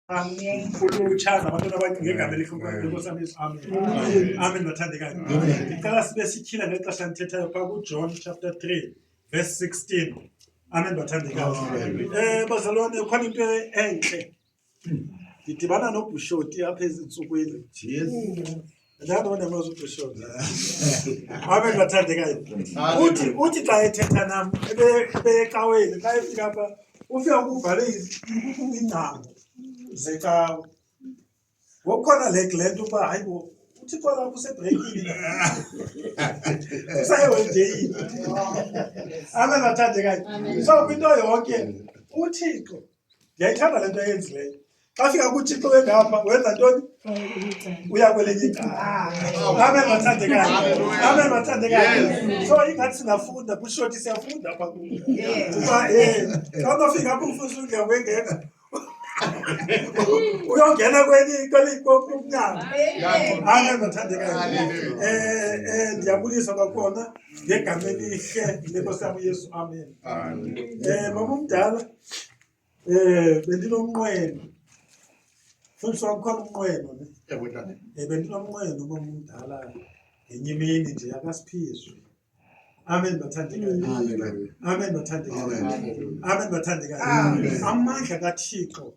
Amen. Uchaza abantwana bakhe ngegama elikhulumayo nkosi yami Yesu. Amen. Amen bathandekayo. Ngicela sibe sityhila ngexesha ndithethayo phaa kuJohn chapter 3 verse 16. Amen bathandekayo. Eh bazalwane khona into entle. Ndidibana nobhushoti apha ezintsukwini. Ndithanda abantu abazi uqishona. Wabe ngibathandeka yena. Uthi uthi xa ethetha nam ebe- ebeyecaweni xa efika apha ufika kuvale iz- iingcango zecawe. Ngokukhona le le nto uba hayi bo uthi kwala kusebreykini na. Kusayeholideyin. Amen bathandekayo. So kwinto yonke uThixo ndiyayithanda le nto ayenzileyo xa fika kuthixo wengapha wenza ntoni uya kwelinye icalaamen mathandekayo amen mathandekayo so ingathi singafunda kushoti siyafunda apha ku uba um xa unofika apho umfuzi undiya kwengeka uyongena kwelinyaanga amen mathandekayo um ndiyabulisa kwakhona ngegama elihle lenkosi yam uyesu amen um mamumdala Eh bendinomnqweno. Mfundisi wam khona umnqweno ne. Ewe tata. Eh bendinomnqweno uba mdala ngenye imini nje akasiphizwe. Amen bathandekayo. Amen bathandekayo. Amen bathandekayo. Amandla kaThixo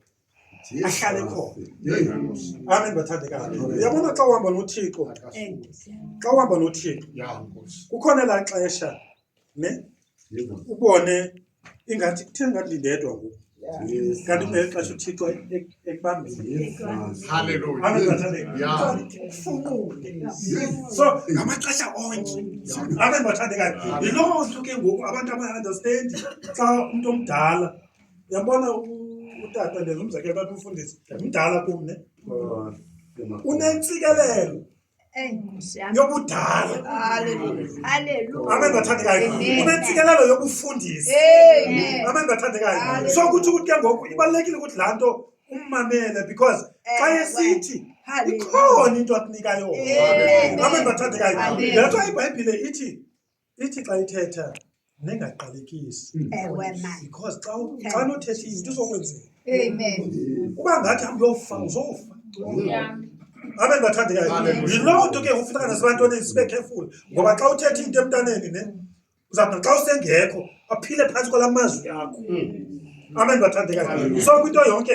ahlale khona amen bathandekayo uyabona xa uhamba nothixo xa uhamba nothixo kukhona elaa xesha ne ubone ingathi kuthe ngathi ndindedwa ngoku kanti ngeli xesha uthixo ekubambileso ngamaxesha onke abe ndibathandekayo yiloo nto ke ngoku abantu abayi-understandi xa umntu omdala Yabona utata ndenza umzekelo bathi umfundisi mdala kum ne oh, unentsikelelo yobudala amen bathandekayo unentsikelelo yokufundisa amen bathandekayo so kuthi ukuthi ke ngoku ibalulekile ukuthi laa nto ummamele because eh, xa esithi ikhona into akunikayo amen bathandekayo le nto ibhayibhile ithi Ithi xa ithetha nengaqalekisi. Mm. Ewe mama. Because xa u- Thank xa nothetha izinto izokwenzeka. Amen. Uba ngathi hambe uyofa uzofa. Abe bathandekayo. Hallelujah. Yiloo nto ke kufuneka nasebantwaneni sibe careful ngoba xa uthetha into emntaneni ne uzawuthi xa usengekho aphile phantsi kwala mazwi akho. Amen bathandekayo. Hallelujah. So kwinto yonke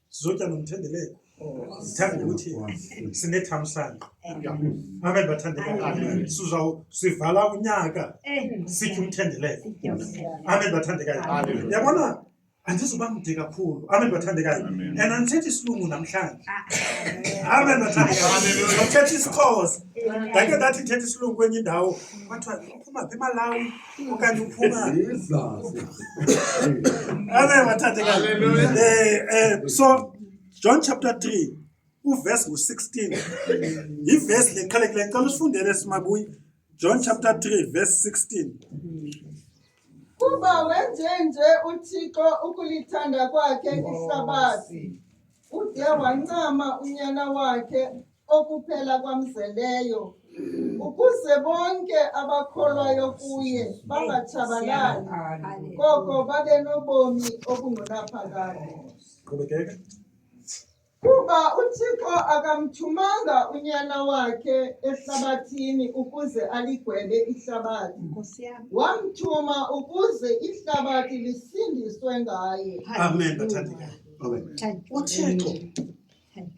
sizotya nomthendeleko ndithanda ukuthi sinethamsanqa amen bathandekayo sivala unyaka sitye umthendeleko amen bathandekayo yabona andizoba mde kakhulu amen bathandekayo and andithetha isilungu namhlanje ah. amen bathandekayo ndithetha isixhosa ndake ndathi ndithetha isilungu kwenye indawo kwathiwa uphuma phi emalawi Wakati ufunga. Amen wathathe kahle. Hallelujah. Eh eh so John chapter 3 uverse ngu-16 yivesi le qhalekileyo ngicela usifundele simabuyi john chapter 3 verse 16 kuba wenjenje uthixo ukulithanda kwakhe ihlabathi ude wancama unyana wakhe okuphela kwamzeleyo ukuze bonke abakholwayo kuye bangatshabalali koko babe nobomi obungunaphakade qhubekeka kuba uthixo akamthumanga unyana wakhe ehlabathini ukuze aligwebe ihlabathi wamthuma ukuze ihlabathi lisindiswe ngaye amen bathandekayo uthixo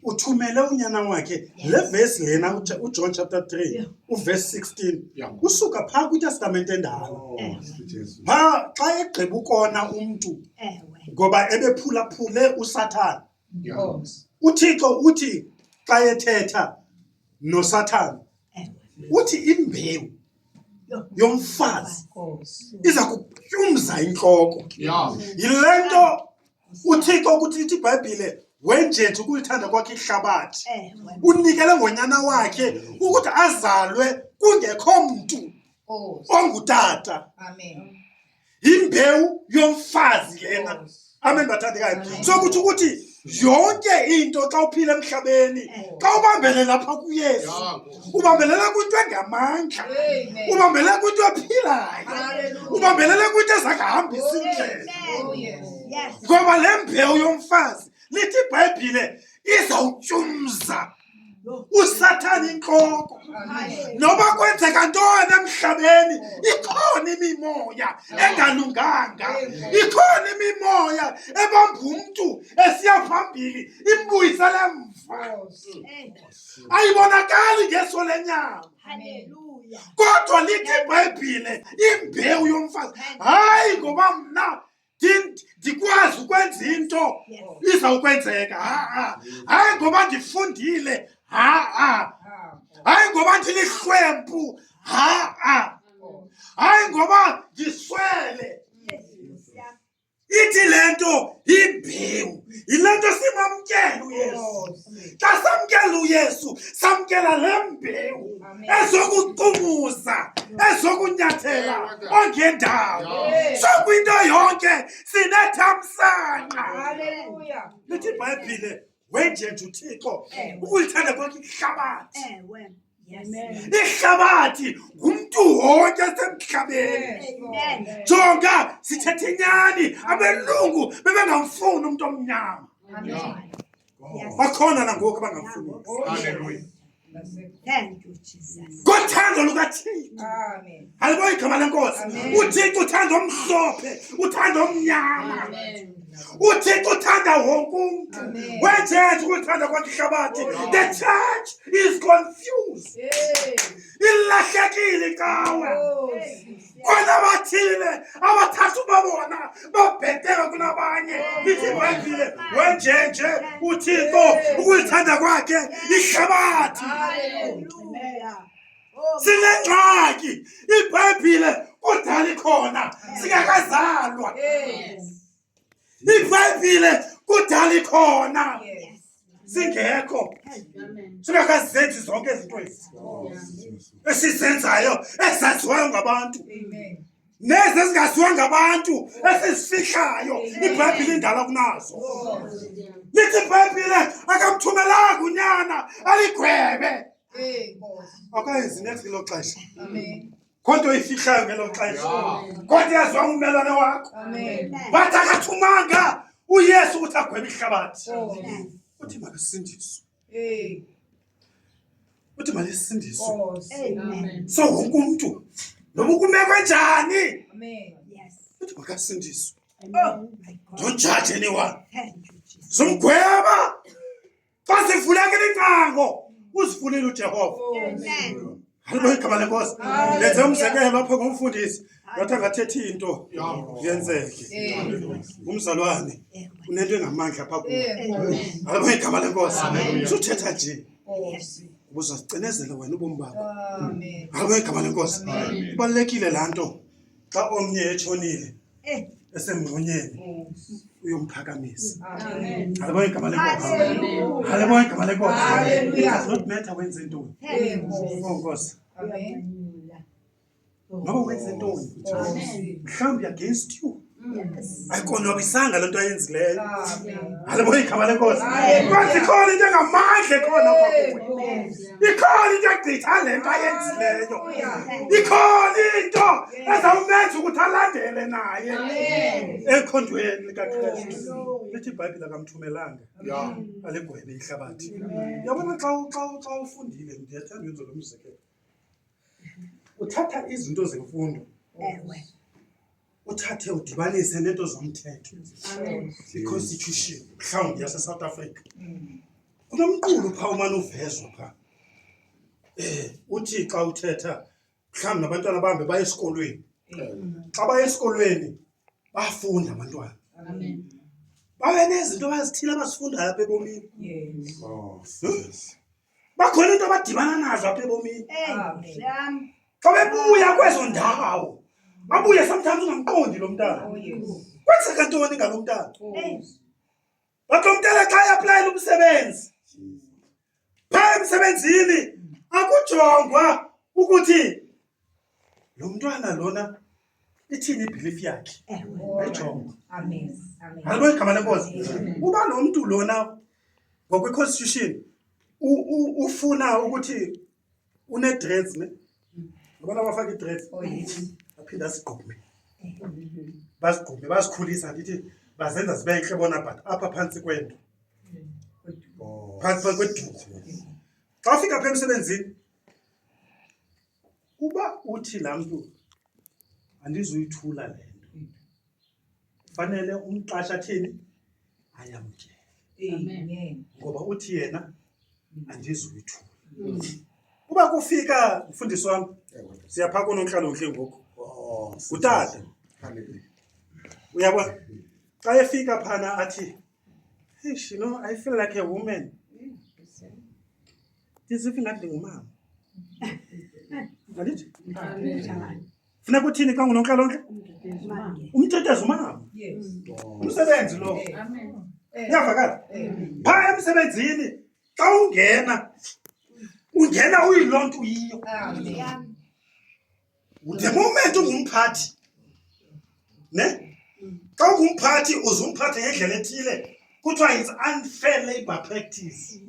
uthumele unyana wakhe le vesi lena uJ- ujohn chapter 3 Yeah. uverse 16 Yeah. usuka phaa kwitestamente endala Oh, sweet Jesus. phaa xa egqiba ukona umntu Ewe. ngoba ebephulaphule usathana Yeah. Oh. uthixo uthi xa ethetha nosathana Ewe. uthi imbewu Yo. yomfazi Oh. iza kutyumza intloko Yeah. yile nto uthixo ukuthi lithi ibhayibhile wenjethi ukulithanda kwakhe ihlabathi eh, unikele ngonyana wakhe ukuthi azalwe kungekho mntu oh. ongutata yimbewu yomfazi lena amen bathandekayo so kuthi ukuthi yonke into xa uphila emhlabeni eh. xa ubambele lapha kuyesu ubambelela kwinto engamandla ubambelela kwinto ephilayo ubambelela kwinto ezakahambisa indlela oh, ngoba le mbewu yomfazi lithi ibhayibhile izawutyumza usathane intloko noba kwenzeka ntoni emhlabeni ikhona imimoya engalunganga ikhona imimoya ebamba umntu esiya phambili imbuyisele mva ayibonakali ngeso lenyama kodwa lithi ibhayibhile imbewu yomfazi hayi ngoba mna ndikwazi ukwenza into izawukwenzeka ha-a hayi ngoba ndifundile ha-a hayi ngoba ndilihlwempu ha-a hayi ngoba ndiswele Ithi le nto yimbewu, yile nto simamkela uYesu. Xa samkela uYesu, samkela le mbewu ezokucumuza, ezokunyathela ongendawo. So kwinto yonke sinethamsanqa. Lithi iBhayibhile wenjenje uthixo ukulithanda kwakhe ihlabathi ihlabathi ngumntu wonke semhlabeni jonga sithetha inyani abelungu bebengamfuni umntu omnyama bakhona nangoku abangamfuni kothando lukathixo alibonke igama lenkosi uthixo uthanda omhlophe uthanda omnyama uthixo uthanda wonke umntu wetshetshi ukuthanda kwakhe ihlabathi oh, the church is confused ilahlekile cawe kona bathile abathathu babona babheteka kunabanye ithi ibhayibhile wenjenje uthixo ukulithanda kwakhe ihlabathi sinengxaki ibhayibhile kudala ikhona singakazalwa ibhayibhile kudala ikhona singekho singakazi zenzi zonke izinto ezi esizenzayo ezaziwayo ngabantu nezi ezingaziwa ngabantu esizifihlayo ibhayibhile indala kunazo lithi ibhayibhile akamthumelanga unyana aligwebe akayenzi next kilo xesha kodwa uyifihlayo ngelo xesha kodwa yazwa ummelwane wakho but akathumanga uyesu ukuthi agwebe ihlabathi oh. uthi makasindiswe uthi malisindiswe oh, so wonke umntu noma ukumeko enjani uthi makasindiswe oh, don't judge anyone zomgweba Xa sivuleke licango, uzivulile uJehova. Amen. Haleluya igama lenkosi. Hallelujah. Ndenze umzekelo apho ngomfundisi. Ngathi angathethi into yenzeke. Umzalwane unento engamandla apha kuwe. Haleluya igama lenkosi. Amen. Suthetha nje. Ubuzacinezela wena ubomi bakho. Haleluya igama lenkosi. Ibalekile lanto xa omnye etshonile Eh. esemngxonyeni oh. uyomphakamisa alibona igama lenkosi alibona igama lenkosi does not matter wenze ntoni onkosi oh, noba wenze ntoni mhlawumbi against you ayikonwabisanga le nto ayenzileyo alibona igama lenkosi kwazikhona into engamandla ekhona kwakuwe ikhona into egqitha le nto ayenzileyo ikhona into ezawumenza ukuthi alandele naye ekhondweni likakristu lithi ibhayibhile akamthumelanga aligwebe ihlabathi yabona xa ufundile ndiyethanda yenzo lo mzekelo Uthatha izinto zemfundo Ewe. uthathe udibanise neento zomthetho i-constitution mhlawumbi yasesouth africa kunomqulu phaa umane uvezwa phaa um uthi xa uthetha mhlawumbi nabantwana bahambe baye esikolweni xa baye esikolweni bafunda abantwana Amen. babe nezinto abazithile abazifundayo apha ebomini Yes. Oh, yes. bakhona into abadibana nazo apha ebomini xa bebuya kwezo ndawo babuye sometimes ungamqondi lo mntana oh, kwenzeka ntoni ngalo mntana but lo mntana xa eaplayela umsebenzi phaa emsebenzini akujongwa ukuthi lo mntwana lona ithini ibhilifu yakhe ayijongo alibona igama lenkosi uba lo mntu lona ngokweconstitution ufuna ukuthi unedress ne abana bafaka idress oh, aphinde asigqume basigqume basikhulisa ndithi bazenza zibe ntle bona but apha phantsi kwento phantsi kweduku xa ufika pha emsebenzini Uba uthi laa mntu andizuyithula le nto, fanele umqasha athini? Ayamkele. Amen. Ngoba uthi yena andizuyithula. Uba kufika mfundisi wam, siya phaa koonontlalontle ngoku, Oh, ngutata. Hallelujah. Uyabo? Xa efika phana athi, Eish, you know, I feel like a woman. Ndiziva ingathi ndingumama. Mandithi? Funeka uthini xa ungunontlalontle? Umtetezi umama. Umsebenzi lo. Uyavakala? Phaa emsebenzini xa ungena, ungena uyiloo nto uyiyo. the moment ungumphathi ne xa ungumphathi uze umphathe ngendlela ethile kuthiwa it's unfair labor practice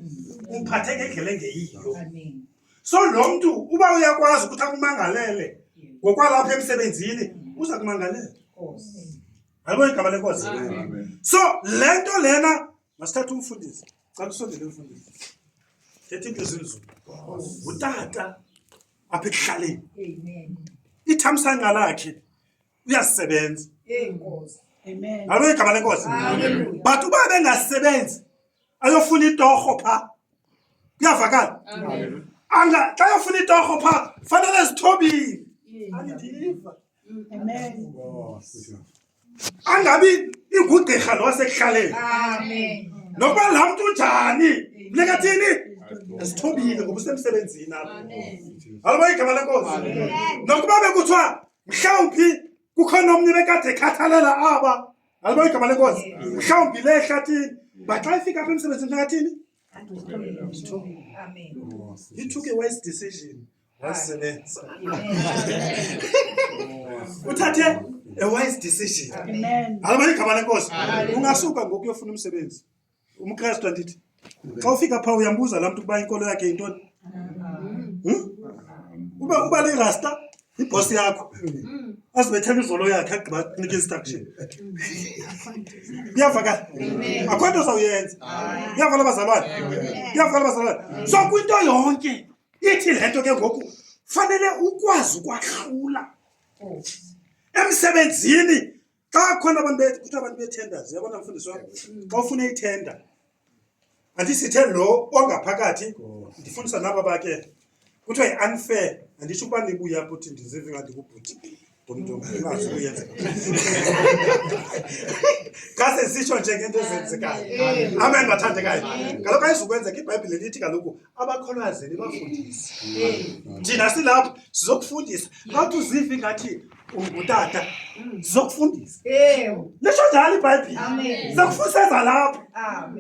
umphathe ngendlela engeyiyo so lo mntu uba uyakwazi ukuthi akumangalele ngokwalapha emsebenzini uza kumangalela yabo igama lenkosi so le nto lena masithatha umfundisi cala usondele umfundisi thetha into ezinzulu ngutata apha ekuhlaleni ithamsanqa lakhe uyasebenza alo igama lenkosi but uba bengasebenzi ayofuna itorho pha kuyavakala anga xa yofuna itorho pha fanele zithobile andiva angabi ingugqirha lo wasekuhlaleni nokuba laa mntu unjani funeka thini esithobile ngoba usemsebenzini apho aloba igama lenkosi nokuba bekuthiwa mhlawumphi kukhona omnye bekade ekhathalela aba aloba igama lenkosi mhlawumbi le ehlathini baxa ifika apha emsebenzini funeka thini He took a wise decision. Amen. uthathe a wise decision Amen. alabanye igama lenkosi ungasuka ngoku uyofuna umsebenzi umkrestu andithi xa ufika phaa uyambuza laa mntu ukuba inkolo yakhe yintoni Hmm? uba uba lirasta yibhosi yakho azibethela izolo yakhe agqiba kunika instruction iyavakala akho nto zawuyenza iyavakala bazalwane iyavakala bazalwane so kwinto yonke ithi le nto ke ngoku fanele ukwazi ukwahlula oh. emsebenzini xa khona abantu kuthiwa abantu betenders yabona mfundisi wam mm. xa ufuna ithenda andisithe lo ongaphakathi oh. ndifundisa naba bake kuthiwa yi-unfair anditsho ukuba nibuya kuthi ndizive ngathi kubhuti Ngumntu mm. ongazi ukuyenzeka. Ngase sisho nje ngento ezenzekayo. Mm. Amen bathandekayo. Mm. Kaloku ayizukwenzeka iBhayibhile lithi kaloku abakholwazini bafundisi. Thina silapha sizokufundisa. Ngathi uzive ngathi ungutata zokufundisa lisho njalo ibhayibhile zakufuseza lapho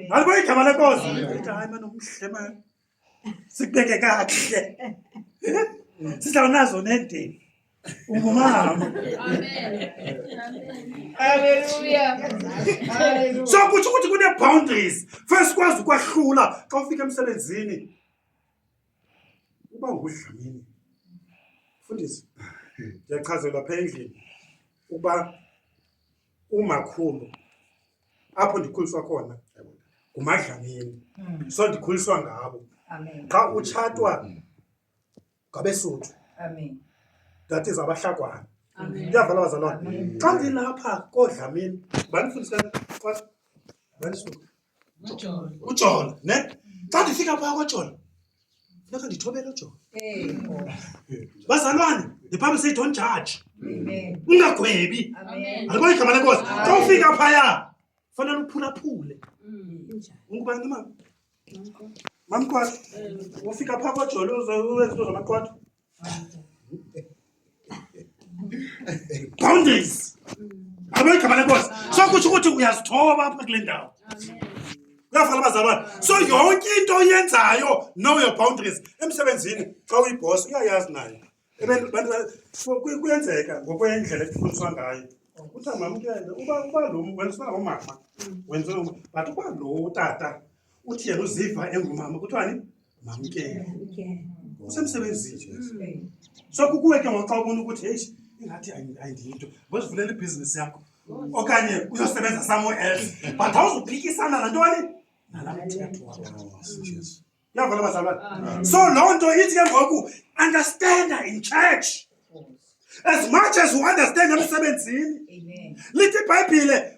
ngalibo igama lenkosi hayi mane umhle mani sikubeke kakuhle sizawunazo nendeni ungumama so kutsho ukuthi kunee-boundaries first kwazi ukwahlula xa ufika emsebenzini uba ngudlamini fundisi ndiyachazelwa pha endlini ukuba umakhulu apho ndikhuliswa khona ngumadlamini mm. so ndikhuliswa ngabo xa utshatwa mm. ngabesuthu that is abahlakwana ndiyavala bazalwana xa ndilapha koodlamini bandifundisa bandisuka ujola ne xa ndifika phaa kojola Funeka ndithobele uJona. Bazalwane, the Bible says don't judge. Ungagwebi. Alibona igama lenkosi. Xa ufika phaya, fanele uphulaphule. Ungubani mama? Mamkwati, ufika phaa koJolo uze uwenze into zamaqwathi. boundaries abanye igama boss. so kutsho ukuthi uyazithoba apha kule ndawo uyafana abazalwane so yonke into oyenzayo know your boundaries emsebenzini xa uyibhosi uyayazi nayo kuyenzeka ngokwendlela efundiswa ngayo uthi amamkele uba lo wenziwa ngomama wenziwa but uba lo utata Uthi yena uziva engumama kuthiwani? Mamkele. Usemsebenzini nje. Mm. So kukuwe ke ngoxa ubona ukuthi hey ingathi ayindiyinto. Ngozivulela ibhizinisi yakho. Okanye uyosebenza somewhere else. But awuzuphikisana nanto wani? Nalamthetho wakho. Jesu. Yavela bazalwane. Ah. So loo nto ithi ke ngoku understand in church. As much as you understand emsebenzini. Amen. Lithi iBhayibhile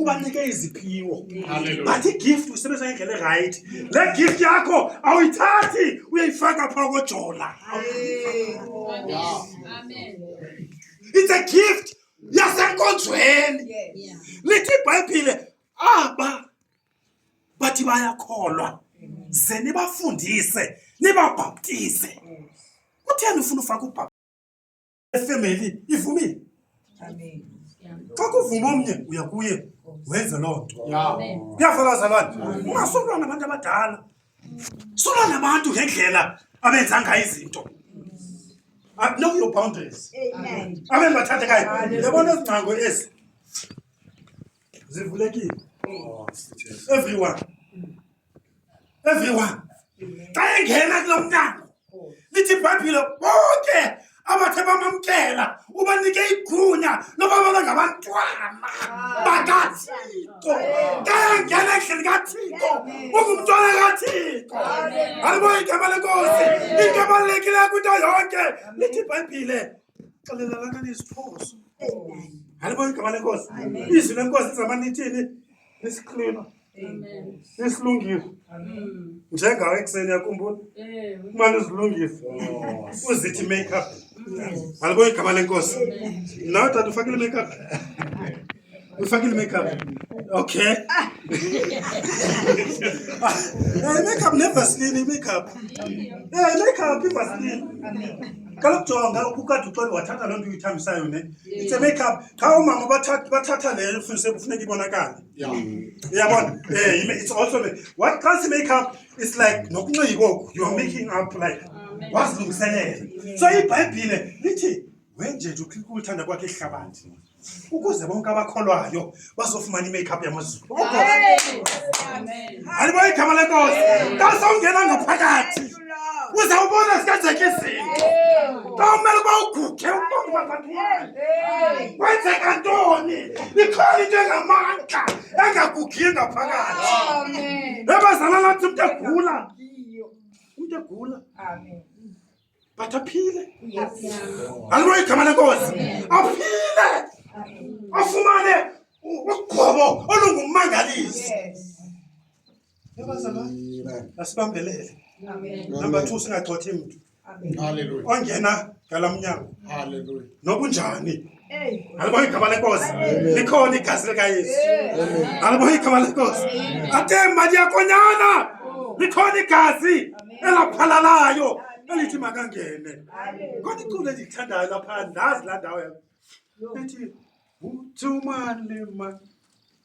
ubanike iziphiwo but igift uyisebenzisa ngendlela erayithi le gift yakho awuyithathi uyayifaka phaa kojola it's a gift yasenkonzweni lithi ibhayibhile aba bathi bayakholwa ze nibafundise nibabhaptize kutheni ufuna ufaka ubhaptize esema eli ivumile xa kuvuma omnye uya kuye wenze loo nto kuyafana bazalwane ungasolwa nabantu abadala solwa nabantu ngendlela abenza ngayo izinto ah, know your boundaries abe ndibathathekayo yabona ezi ngcango ezi zivulekile oh, everyone everyone xa engena kulo mnyango lithi ibhayibhile bonke abathe bamamkela ubanike igunya loba babe ngabantwana bakathixo xa engena endlini kathixo ungumntwana kathixo alibo igama lenkosi into ebalulekileyo kwinto yonke lithi ibhayibhile xelelelana neziphoso alibo igama lenkosi izwi lenkosi zamanithini nesiqhilima isilungiso njengawe ekuseni yakhumbula umane uzilungise oh. uzithi makeup alibona igama lenkosi nawe tata ufakile makeup ufakile makeup okay eh makeup nevaseline makeup eh makeup ivaseline kaloku jonga ukukade uxole wathatha loo nto uyithambisayo ne it's a makeup qha oomama bathatha le funise kufuneka ibonakale Yeah. Uyabona? Eh, you may- it's also ma- what trans makeup is like nokunxiba oku you are making up like wazilungiselela. So iBhayibhile lithi wenje nje ukhika uthanda kwakhe ihlabathi ukuze bonke abakholwayo bazofumana i-makeup yamazulu. Amen. Alibona igama lenkosi. Kasongena ngaphakathi. uzawubona sikenzekisi xa umele uba uguge uqondibazathwani kwenzeka ntoni ikhona into engamandla engagugiyo ngaphakathi ebazala lathi umntu egula umntu egula but aphile alibo igama lenkosi aphile afumane uqobo olungumangalisi asibambelele number two singagxothi mntu ongena ngala mnyango nokunjani alibona igama lenkosi likhona igazi likayesu alibona igama lenkosi ate mali yakonyana oh. likhona igazi elaphalalayo elithi makangene khona iculo endilithandayo lapha ndazi laa ndawo yam ethi uthumane ma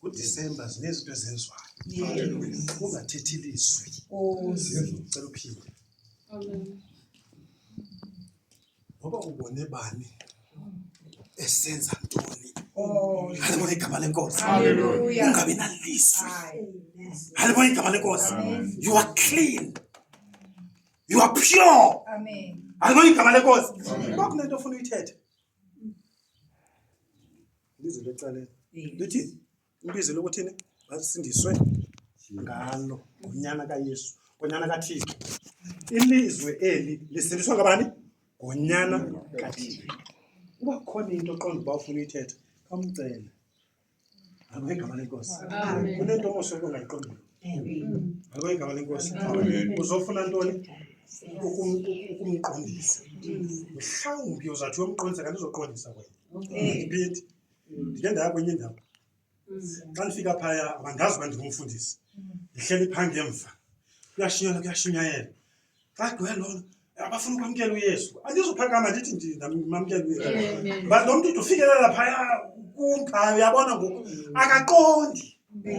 kudisemba zinezinto ezenziwayo ungathethi lizwi cela uphinde ngoba ubone bani esenza ntoni halibona igama lenkosi ungabi nalizwi halibona igama lenkosi you are clean you are pure halibona igama lenkosi kwakunento ofuna uyithethe Ibizo lecaleni. Lithi ibizo lokuthini? Basindiswe ngalo ngonyana kaYesu, ngonyana kaThixo. Ilizwe eli lisindiswa ngabani? Ngonyana kaThixo. Uba khona into oqonda uba ufuna uyithetha, khawumcele. Ngalo igama lenkosi. Amen. Kunento omuhle ongayiqondiyo. Ngalo igama lenkosi. Amen. Uzofuna ntoni? Ukum- ukumqondisa. Mhlawumbi uzawuthi uyomqondisa kanti uzoqondisa wena. ndiphethi ndike ndaya kwenye indawo xa ndifika phaya mandazi uba ndingumfundisi ndihleli phambi emva kuyashunyela kuyashunyayela xa gwe lona abafuna ukwamkela uyesu andizuphakama ndithi ndinamkela uyesu but lo mntu ndifikelela phaya kumphaya uyabona ngoku akaqondi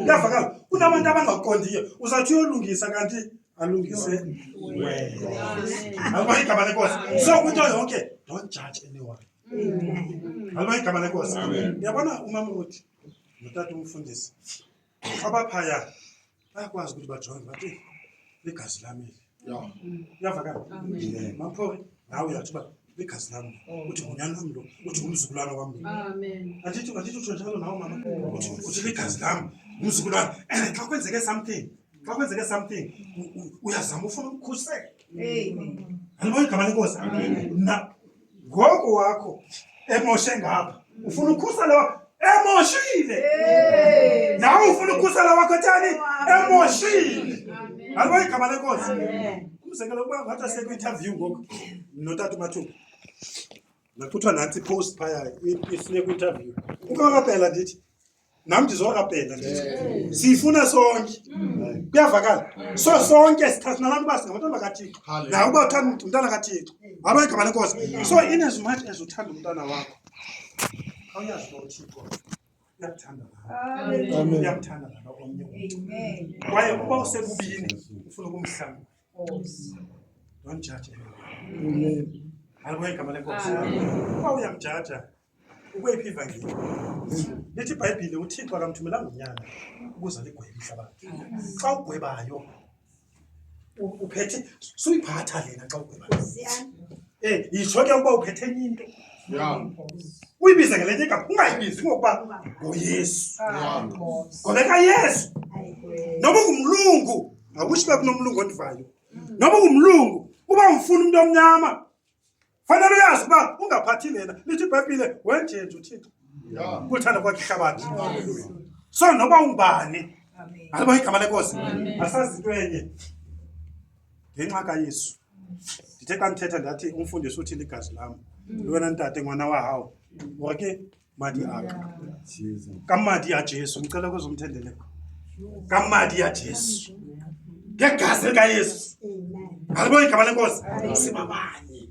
uyavakala kunabantu abangaqondiyo uzawuthi uyolungisa kanti alungise wena alubona igama lenkosi so kwinto yonke don't judge anyone Haleluya igama lenkosi. Yabona umama uthi notata umfundisi abaphaya bayakwazi ukuthi bajonge bathi ligazi lami uyavakala maphori nawe uyathi uba ligazi lami uthi ngunyana wam lo uthi ngumzukulwana wam lo andithi andithi utsho njalo nawo mama uthi ligazi lam ngumzukulwana and xa kwenzeke something xa kwenzeke something uyazama ufuna umkhusela andibona igama lenkosi Ngoku wakho emoshe ngapha. Ufuna ukhusa lo emoshile. Nawe ufuna ukhusa lo wakho tani emoshile. Ngalo igama lenkosi. Umzekelo kuba ngathi asekwi interview ngoku notata uMathuba. Nakuthiwa nansi post phaya ifune kwi-interview. Uba kapela ndithi nam ndizokapenda ndithi siyifuna sonke mm. kuyavakala mm. so sonke sithatha nabantu uba singabantwana bakathixo naye uba uthanda umntana kathixo waba mm. igama lenkosi so in as much as uthanda umntana wakho awuyazi uba uthixo uyakuthanda nawe uyakuthanda nalo omnye umntu kwaye uba usekubini ufuna ukumhlamba don't judge anyone hayi kwegama lenkosi uba uyamjaja Ukweyiphi ivangeli? Lithi iBhayibhile uThixo akamthumelanga unyana ukuze aligwebe ihlabathi. Xa ugwebayo u- uphethe suyiphatha lena xa ugwebayo. Eh, yitsho ke ukuba uphethe enye into. Yeah. Uyibize ngelenye igama, ungayibizi ngokuba nguYesu. Yeah. Ngoba kaYesu noma ungumlungu akutsho uba kunomlungu ondivayo noma ungumlungu uba umfuna umntu omnyama fanele uyazi uba ungaphathi lena lithi ibhayibhile wenjenje uthixo kuthanda kwakhe ihlabathi so noba ungubani aliba igama lenkosi asazi into enye ngenxa kayesu ndithe xa ndithetha ndathi umfundisi uthi ligazi lam mm. lwena ntate ngwana wahawu ore ke madi aka ka madi a jesu ngicela kuzwa umthendeleko ka madi a jesu ngegazi likayesu alibona igama lenkosi sibabanye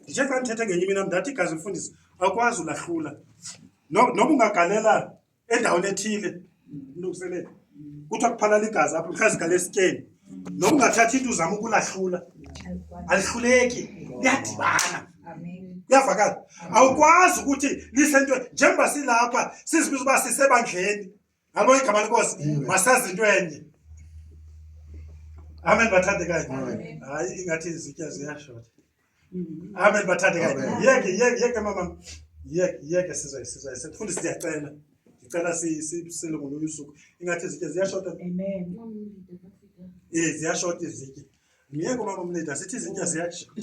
ndithe xa ndithethe ngenye imina ndathi igazi mfundisi akwazi ulahlula noba ungagalela endaweni ethile mlungiselele kuthiwa kuphalala igazi apho likhazigala esityeni noba ungathathi into uzama ukulahlula alihluleki liyadibana kuyavakala awukwazi ukuthi lisento njengoba silapha sizibiza uba sisebandleni ngalo igama lenkosi masazi into enye amen bathandekayo hayi ingathi izitya ziyashota Amen bathathe kabi. Yeke yeke yeke mama. Yeke yeke sizwe sizwe. Sifundi siyacela. Ngicela si sisile ngolunye usuku. Ingathi izitye ziyashota. Amen. Eh ziyashota izitye. Myeke umama umlida sithi izitya ziyashota.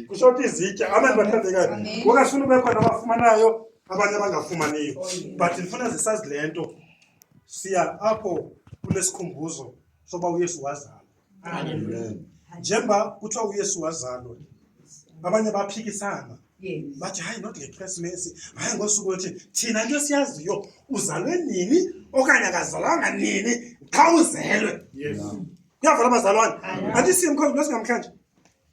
Kushota izitya. Amen bathathe kabi. Kungafuna ube khona abafumanayo abanye abangafumaniyo. But ndifuna zisazi lento. Siya apho kunesikhumbuzo soba uYesu wazama. Amen. Njengoba kuthiwa uYesu wazalwa, abanye baphikisana bathi hayi not ngeKrisimesi, hayi ngosuku othi thina into esiyaziyo uzalwe nini okanye akazalwanga nini qha uzelwe. Kuyavela abazalwane, andisiye mkhonzi lo singamhlanje.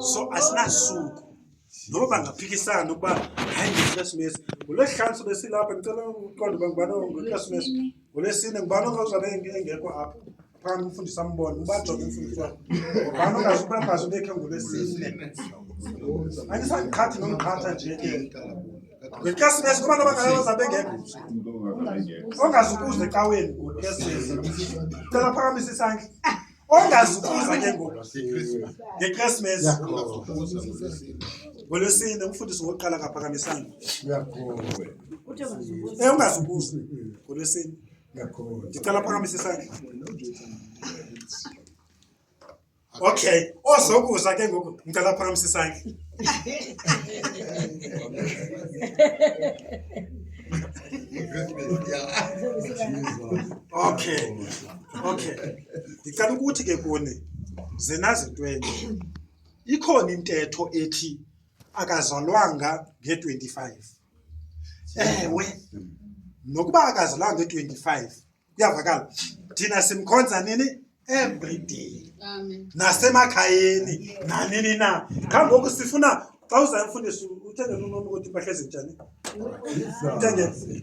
so asinasuku noba bangaphikisana ukuba hayi ngekhrisimesi ngolwesihlanu sobe silapha ndicela uqonda uba ngubani ngekhrisimesi ngolwesine ngubani ongazwabe engekho apho phana umfundisi ambone ubajonge umfundisi wakho ngubani ongazubangazi ubekhe ngolwesine andisandiqhathi nomqhatha nje ke ngekhrisimesi kubantu abangayoza bengekho ongazukuza ecaweni ngolwesine cela phakamisa isandla ongazukuza ke ngoku ngechristmas ngolwesine umfundisi wokuqala kaphakamisanga e ungazukuza ngolwesine ndicela phakamise isandla okay ozokuza ke ngoku ndicela phakamise isandla okay okay ndicela ukuthi ke kuni zinazintwenye ikhona intetho ethi akazalwanga nge-25 ewe nokuba akazalwanga nge-25 kuyavakala thina simkhonza nini every day nasemakhayeni nanini na qha ngoku sifuna xa uzayimfundisa uthengele unomi ukuthi impahla ezinjani uthengele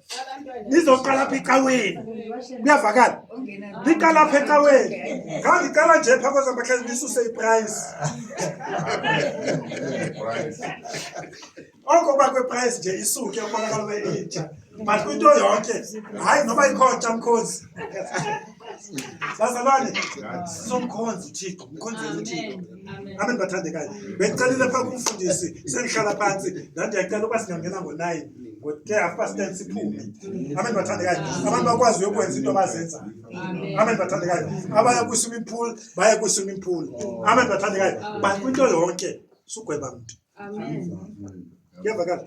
nizoqala apha ecaweni kuyavakala niqala apha ecaweni ngandiqala nje phaa kwezamahlezi ndisuse iprice oko uba kweprice nje isuke ubonakala ube intsha but kwinto yonke hayi noba ikhotsha mkhozi sazalwane somkhonzi uthixo mkhonzeni uthixo amen bathandekayo bendicelile phaa kumfundisi sendihlala phantsi ndandiyacela uba singangena ngonayi ngoke after stand siphume amen bathandekayo abantu bakwazi uyokwenza into abazenza amen bathandekayo abaya kwi-swimming pool baya kwi-swimming pool amen bathandekayo but kwinto yonke sugweba mntu kuyavakala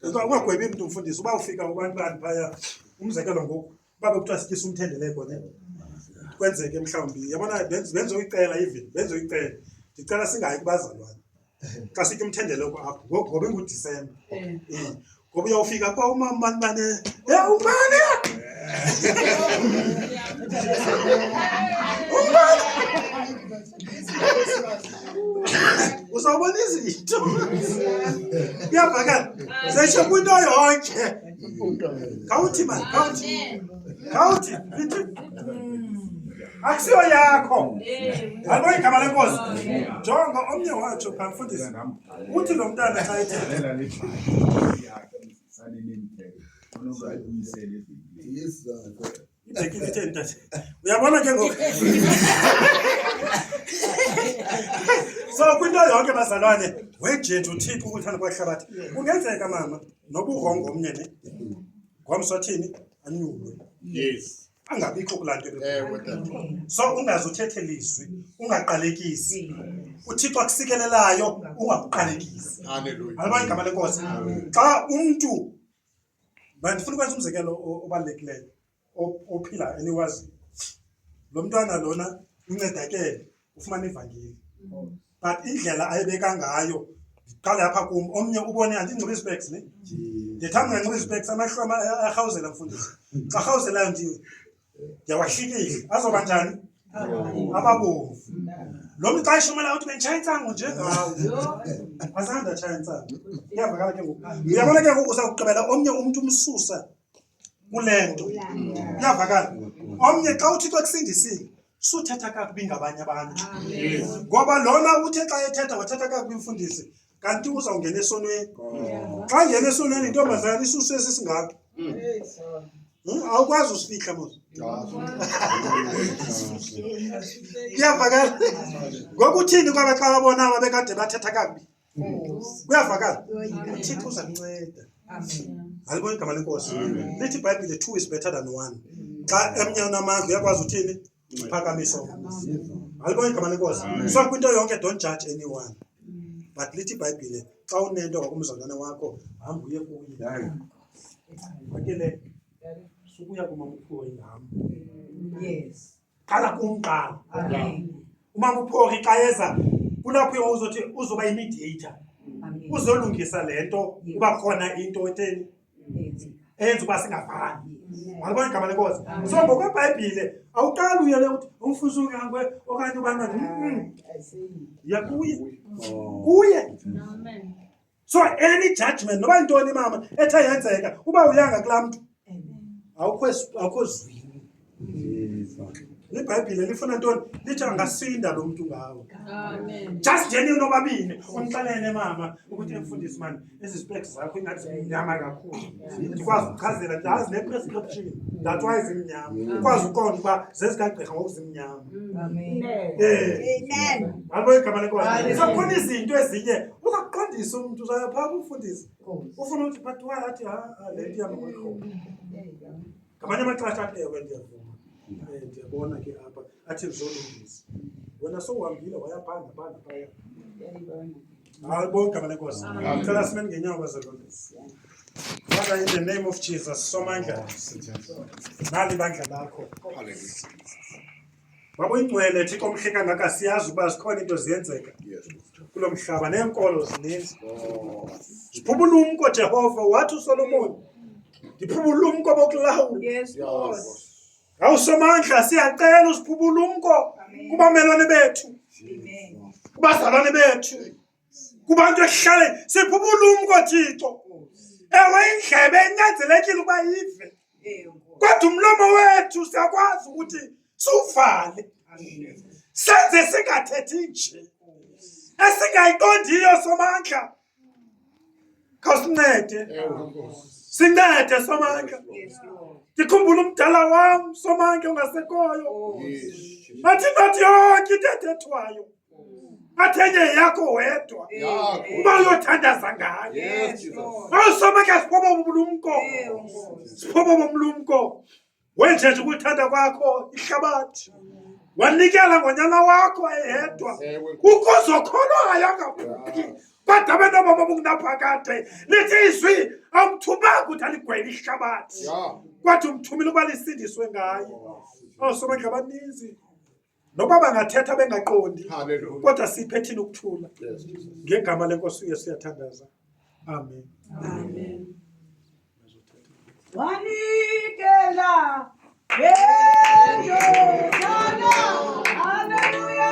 Uba ungagwebi mntu mfundisi uba ufika kubantwana phaya umzekelo ngoku uba bekuthiwa sityisa umthendeleko ne kwenzeke mhlawumbi yabona benz- benze uyicela even benze uyicela ndicela singayi kubazalwane xa sitya umthendeleko apho ngoku ngoba ingudisemba Eh, Eh, ngoba uyawufika kwa umama mani bane e umane uzawubona izinto kuyavakala sesho kwinto yonke khawuthi mani khawuthi khawuthi ithi akusiyo yakho alibo igama lenkosi jonga omnye watsho phamfundisi uthi lo mntana xa ethethe Yes, sir. Uyabona ke ngoku. So kwinto yonke bazalwane wejetu uthipha ukuthanda kwahlabathi. Kungenzeka mama noburongo omnye ne. Ngomso thini anyulwe. Yes. Angabikho kulaa nto. Ewe tata. So ungaze uthethe lizwi, ungaqalekisi. UThixo akusikelelayo ungakuqalekisi. Hallelujah. Alibona igama lenkosi. Xa umntu Mna ndifuna ukwenza umzekelo obalulekileyo ophila eniwaziyo. Lo mntwana lona uncedakele ufumana ivangeli but indlela ayibeka ngayo ndiqale apha kum omnye ubone andinxiba izipeks ne ndithanda unganxiba izipeks amahlo arhawuzela mfundisi xa rhawuzelayo ndiwe Yawahlikile. Azoba njani? Ababomvu. Lo mqashi umela ukuthi bendishaya intsango nje ngawo. Asanda tshaya intsango. Iyavakala ke ngoku. Uyabona ke ngoku uzawugqibela omnye umntu umsusa kule nto. Iyavakala. Omnye xa uthi xa kusindisile suthetha kakubi ngabanye abantu. Ngoba lona uthe xa ethetha wathetha kakubi imfundisi kanti uzawungena esonweni oh. xa ngena esonweni intombazana isusu esi singako hmm. hmm, awukwazi usifihla mos kuyavakala ngokuthini kwaba xa babona babekade bathetha kakubi kuyavakala uthixo uza kunceda alibona igama lenkosi lithi ibhayibhile two is better than one xa emnye unamandla uyakwazi uthini Phakamiso. Alibonke igama lenkosi. So kwinto yonke don't judge anyone. But lithi iBhayibhile xa unento ngakumzalwane wakho hamba uye kuye. Hayi. Bakele sukuya kumamuphiwo ingam. Yes. Qala kumqala. Amen. Umamuphiwo xa eza kulapho yonke uzothi uzoba imediator. Amen. Uzolungisa lento kuba khona into etheni enza uba singafani walibona igama lenkosi so ngokwebhayibhile awuqali uyele uthi umfuzi ungangwe okanye ubana ya kuye oh. kuye so any judgment noba yintoni mama ethe yenzeka uba uyanga kulaa mntu awukho zwini ibhayibhile lifuna ntoni lithi angasinda lo mntu ngawo just njeni unobabini umxelele mama ukuthi emfundisi mani ezi zipek zakho ingathi zimnyama kakhulu ndikwazi ukuchazela ndazi ne-prescription that why zimnyama ukwazi uqonda uba zezikagqirha ngokuzimnyama abo igama lekosakhona izinto ezinye uzaqondisa umntu usayaphaa umfundisi ufuna ukuthi phathiwalathi ha le nto yamaqoqo ngamanye amaxesha athi ewe ndiyavuma Eh, ndiyabona ke apha athi ndizolungisa wena sowuhambile wayabhanga bhanga phaya hayi bonke abane nkosi ndicela simeni ngenyawo bazalondisi Father, in the name of Jesus, somandla, nali bandla lakho. Babuyingcwele Thixo omhle kangaka siyazi ukuba zikhona into ziyenzeka kulo mhlaba neenkolo zininzi. Ziphuma ulumko Jehova wathi uSolomoni ndiphuma ulumko bokulawula. Yes Lord. Awusomandla siyacela usiphuma ulumko kubamelwane bethu. Amen. Kubazalwane bethu. kubantu ehlale sipha ubulumko thixo ewe indlebe enyanzelekile ukuba yive kodwa umlomo wethu siyakwazi ukuthi siwuvale senze singathethi nje esingayiqondiyo somandla khawusincede sincede somandla ndikhumbula umdala wam somandla ongasekhoyo athi not yonke into ethethwayo matenye yako wedwa umayothandaza ngaye mawusomeka siphobo bomlumko siphobo bomlumko wenjenje ukuthanda kwakho ihlabathi wanikela ngonyana wakho eyedwa ukuzokholwayo angaphuphi kodwa abantu ababa bokunaphakade lithi izwi awumthumanga ukuthi aligwele ihlabathi kwathi umthumile ukuba lisindiswe ngaye osomeka abaninzi noba bangathetha bengaqondi Hallelujah. kodwa siphe thina ukuthula Yes, Jesus. ngegama lenkosi uyesu uyathandaza amen wanikela ngendodana haleluya